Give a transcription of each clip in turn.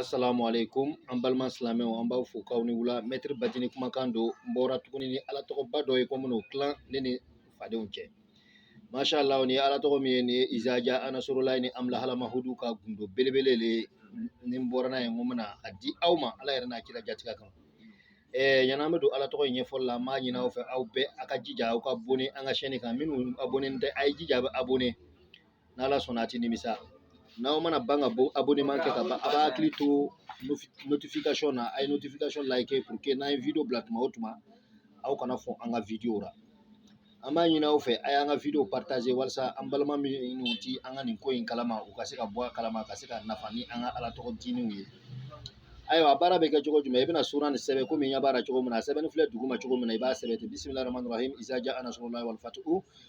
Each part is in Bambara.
Assalamu alaikum an balima silamɛw an b'aw fo k'aw ni wula mɛtiri batini kumakan don n bɔra tuguni ni ala tɔgɔba dɔ ye ko n bɛn'o tilan ne ni fadenw cɛ masha Allah ni ala tɔgɔ min ye nin ye izaja anasrulahi ni amlahalamahudu ka gundo belebele le ni n bɔra n'a ye n ko n bɛna a di aw ma ala yɛrɛ n'a kira jatigɛ kan yani an bɛ don ala tɔgɔ in ɲɛfɔli la an b'a ɲini aw fɛ aw bɛɛ a ka jija aw ka abonne an ka chaîne kan minnu abonne tɛ a ye jija a bɛ abonne n'ala sɔnna a ti nimisa n'aw mana ban ka abonnement kɛ ka ban a b'a hakili to notification na a ye notification like pour que n'an ye video bila tuma o tuma aw kana fɔ an ka video la an b'a ɲini aw fɛ a y'an ka video partager walasa an balima minnu ti an ka nin ko in kalama u ka se ka bɔ a kalama ka se ka nafa ni an ka ala tɔgɔ dininw ye ayiwa baara bɛ kɛ cogo jumɛn i bɛna sura nin sɛbɛn komi n ɲɛ b'a la cogo min na a sɛbɛnni filɛ duguma cogo min na i b'a sɛbɛn ten bisimilahi rahmani rahim izaja anasrulahi walfatuhu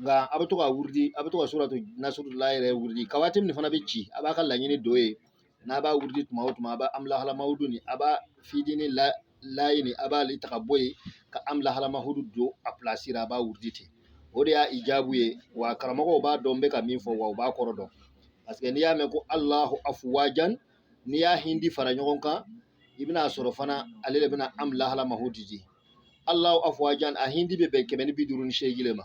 nka a bɛ to ka wurudi a bɛ to ka suratu nasurula yɛrɛ wurudi kawatim nin fana bɛ ci a b'a ka laɲini don yen n'a b'a wurudi tuma o tuma a b'a amlahalamahudu nin a b'a fidini layi nin a b'ale ta ka bɔ yen ka amlahalamahudu don a pilasi ra a b'a wurudi ten o de y'a ijabu ye wa karamɔgɔw b'a dɔn n bɛ ka min fɔ wa u b'a kɔrɔ dɔn parce que n'i y'a mɛn ko alahu afuwajan n'i y'a hindi fara ɲɔgɔn kan i bɛna sɔrɔ fana ale de bɛna amlahalamahudu di alahu afuwajan a hindi bɛ bɛn kɛmɛ ni bi duuru ni seegin de ma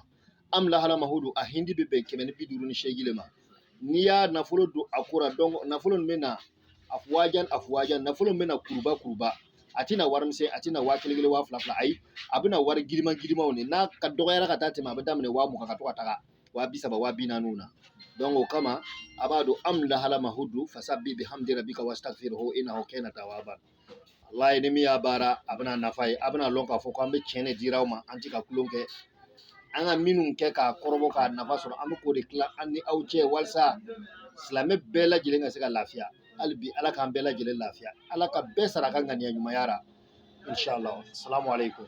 amlahalamahudu a hindi bɛ bɛn kɛmɛ ni bi duuru ni seegin de ma n'i y'a nafolo don a ko ra donc nafolo min bɛ na afuwajan afuwajan nafolo min bɛ na kuruba kuruba a tɛna wari misɛn a tɛna waa kelen kelen waa fila fila ayi a bɛna wari giriman girimanw de n'a ka dɔgɔyara ka dan tɛmɛ a bɛ daminɛ waa mugan ka to ka taga waa bi saba waa bi naaniw na donc o kama a b'a don amlahalamahudu fasabi bihamdi rabbika wastaghfirhu innahu kana tawwaban wallahi ni min y'a baara a bɛna nafa ye a bɛna lɔn k'a fɔ ko an bɛ tiɲɛ de dira aw ma an tɛ ka tulon kɛ an ka minnu kɛ k'a kɔrɔbɔ k'a nafa sɔrɔ an bɛ k'o de tila an ni aw cɛ walasa silamɛ bɛɛ lajɛlen ka se ka lafiya hali bi ala k'an bɛɛ lajɛlen lafiya ala ka bɛɛ sara a ka ŋaniya ɲumanya ra inshallah salamu aleykum